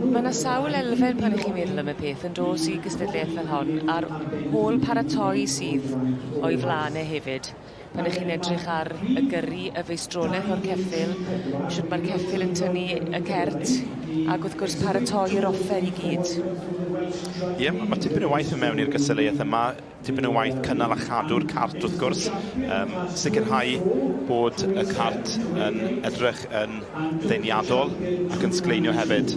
Mae yna sawl elfen pan ych chi'n meddwl am y peth yn dos i gystadleuaeth fel hon a'r hôl paratoi sydd o'i flaen e hefyd. pan ych chi'n edrych ar y gyrru, y feistroleth o'r ceffyl, shwt mae'r ceffyl yn tynnu y cert, ac wrth gwrs paratoi yr offer i gyd. Ie, mae tipyn o waith yn mewn i'r gystadleuaeth yma, tipyn o waith cynnal a chadw'r cart wrth gwrs, um, sicrhau bod y cart yn edrych yn ddeniadol ac yn sgleinio hefyd.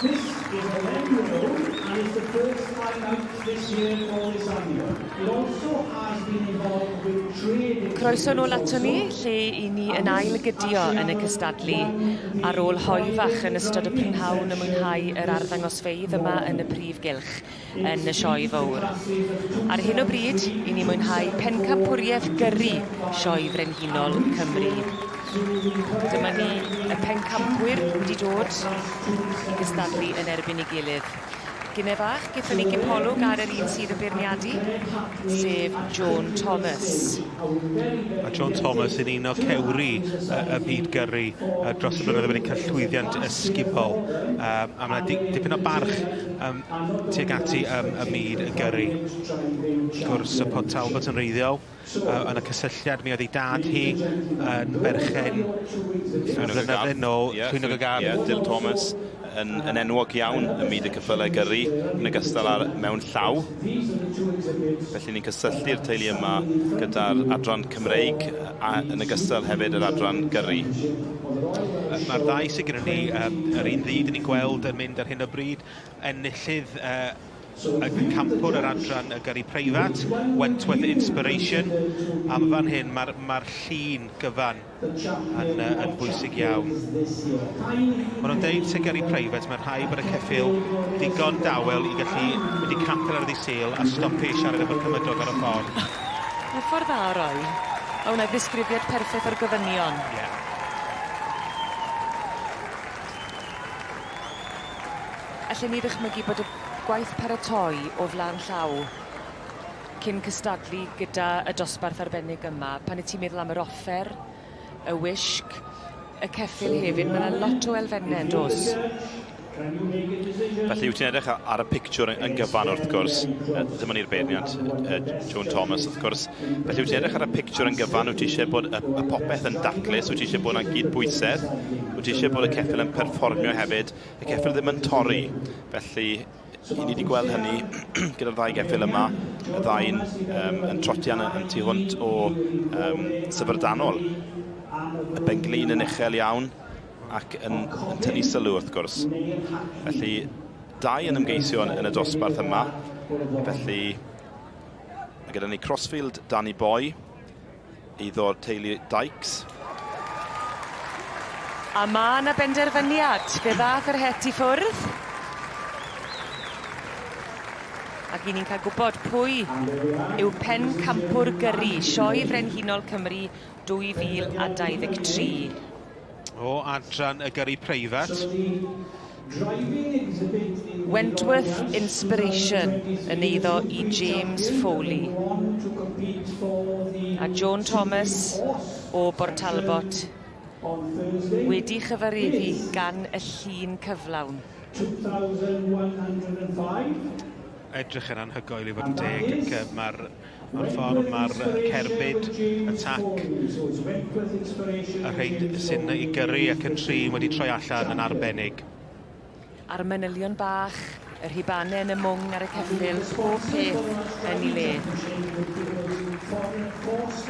This is a wen road and it's the first time out this year for this annual. It also has been involved with trade in... Croeso nôl ato ni, lle i ni yn ail gydio yn y cystadlu. Ar ôl hoe fach yn ystod y prynhawn a mwynhau yr arddangosfeydd yma yn y prif gylch, yn y Sioe Fowr. Ar hyn o bryd, i ni mwynhau pencampwriaeth gyrru Sioe Frenhinol Cymru. Dyma ni, y pencampwyr wedi dod i gystadlu yn erbyn ei gilydd. Gine fach, gyda ni gipolwg ar yr un sydd yn beirniadu, sef Joan Thomas. Mae Joan Thomas yn un o cewri y byd gyrru dros y blynyddoedd wedi cael llwyddiant ysgubol. A mae dipyn o barch tuag at i ym y myd y gyrru. Wrth gwrs, y Pont Talbot yn reiddiol, uh, yn y cysylltiad, mi oedd ei dad hi yn berchen flynyddoedd yn ôl, yeah, Llwynog y Gard. Yeah, Dyl Thomas yn, yn enwog iawn ym myd y cyffylau gyrru, yn y gystal ar mewn llaw. Felly ni'n cysylltu'r teulu yma gyda'r adran Cymreig a yn y gystal hefyd yr adran gyrru. Mae'r ddau sy'n gyda ni, um, yr un ddydd ni'n gweld yn mynd ar hyn o bryd, Enillydd y campwr yr adran y gyrru preifat, Wentworth Inspiration. Am fan hyn, mae'r ma llun gyfan yn, yn bwysig iawn. Maen nhw'n deud sy'n gyrru preifat, mae'n rhaid bod y ceffil digon dawel i gallu mynd i capel ar ddi sil a stopio i siarad efo'r cymydog ar y ffordd. Mae ffordd dda o roi. Mae hwnna ddisgrifiad perffaith o'r gofynion. Yeah. Allwn ni ddychmygu bod y gwaith paratoi o flan llaw cyn cystadlu gyda y dosbarth arbennig yma. Pan y ti'n meddwl am yr offer, y wisg, y ceffyl hefyd, mae yna lot o elfennau yn dos. Felly wyt ti'n edrych ar y pictiwr yn gyfan wrth gwrs, ddim ond i'r beirniad, Joan Thomas wrth gwrs. Felly wyt ti'n edrych ar y pictiwr yn gyfan, wyt ti eisiau bod y popeth yn daclus, wyt ti eisiau bod yna gyd bwysedd. Wyt ti eisiau bod y ceffyl yn perfformio hefyd? Y ceffyl ddim yn torri, felly i ni wedi gweld hynny gyda'r ddau geffyl yma, y ddau'n um, yn trotian yn, yn tu hwnt o um, syfrdanol. Y benglin yn uchel iawn ac yn, yn tynnu sylw wrth gwrs. Felly, dau yn ymgeisio yn, yn y dosbarth yma. Felly, gyda ni Crossfield, Danny Boy, iddo'r teulu Dykes. A ma' 'na benderfyniad. Fe ddath yr het i ffwrdd. Ac i ni'n cael gwybod pwy yw pencampwr gyrru Sioe Frenhinol Cymru 2023. O adran y gyrru preifat. Wentworth inspiration yn eiddo i James Foley a Joan Thomas o Bortalbot wedi chyfareddu gan y llun cyflawn. Edrych yn anhygoel i fod yn deg ac yy ma'r o'r ffordd mae'r cerbyd, y tac, y rhaid sy'n i gyrru ac yn trin wedi troi allan yn arbennig. A'r manylion bach, y rhibane yn y mwng ar y ceffyl, pob peth yn ei le.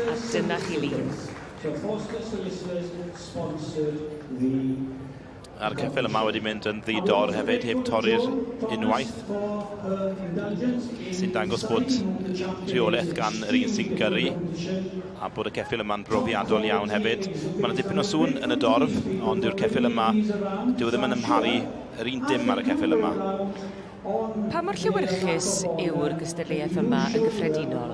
A dyna chi lun. A'r ceffyl yma wedi mynd yn ddi-dor hefyd, heb torri'r unwaith. Sy'n dangos bod rheolaeth gan yr un sy'n gyrru, a bod y ceffyl yma'n brofiadol iawn hefyd. Mae yna dipyn o sŵn yn y dorf, ond yw'r ceffyl yma, dyw e ddim yn amharu yr un dim ar y ceffyl yma. Pa mor llewyrchus yw'r gystadleuaeth yma yn gyffredinol?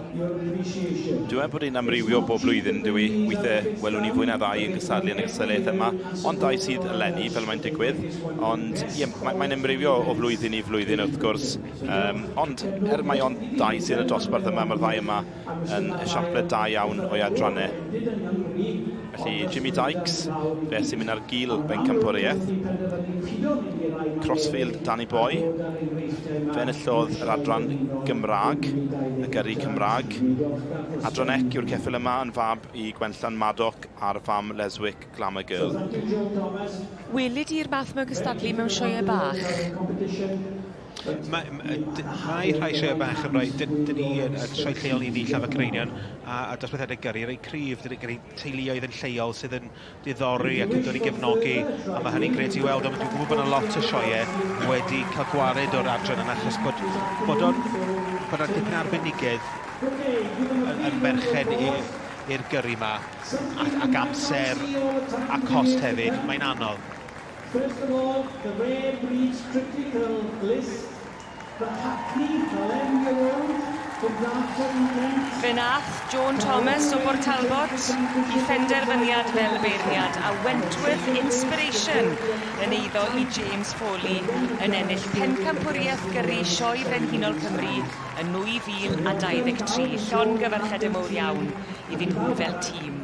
Dywed bod e'n amrywio bob blwyddyn, dw i. Weithiau, welwn ni fwy na ddau yn cystadlu yn y gystadleuaeth yma, ond dau sydd eleni, fel mae'n digwydd. Ond, ie, mae, mae'n amrywio o flwyddyn i flwyddyn, wrth gwrs. Um, ond, er mai ond dau sydd yn y dosbarth yma, mae'r ddau yma yn esiampl da iawn o'i adrannau. Felly Jimmy Dykes, fe sy'n mynd ar gil bencampwriaeth. Crossfield Danny Boy, fe enillodd yr adran Gymraeg, y gyrru Cymraeg. Adran ec yw'r ceffil yma yn fab i Gwenllan Madoc a'r fam Leswick Glamour Girl. Weli di'r math mewn cystadlu mewn sioeau bach? Mae rhai rhai sioe bach yn rhoi, dyn ni yn sioe lleol i ni, Llafod Cereinion, a, a dosbarthiadau gyrru, rei cryf, dyn ni teuluoedd yn lleol sydd yn diddori ac yn dod i gefnogi, a mae hynny'n gred i weld, ond dwi'n gwybod bod yna lot o sioe wedi cael gwared o'r adran yna, achos bod, bod o'n, bod o'n dipyn arbenigedd yn, yn merched i'r gyrru yma, ac amser a cost hefyd, mae'n anodd. First of all, the rare breeds critical list, fy Hacni, eleven year old, from Dartford in Kent. Fe wnaeth Joan Thomas o Bortalbot i phenderfyniad fel beirniad a Wentworth Inspiration yn eiddo i James Foley yn ennill Pencampwriaeth Gyrru Sioe Frenhinol Cymru yn 2023. Llongyfarchiadau mowr iawn iddyn nhw fel tîm.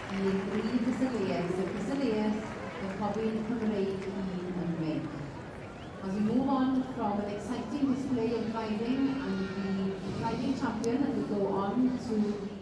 yn ei dri gystadleuaeth, sef Cystadleuaeth y Cofion Cymreig un yn Meic. As we move on from an exciting display of driving and the defending champion as we go on to the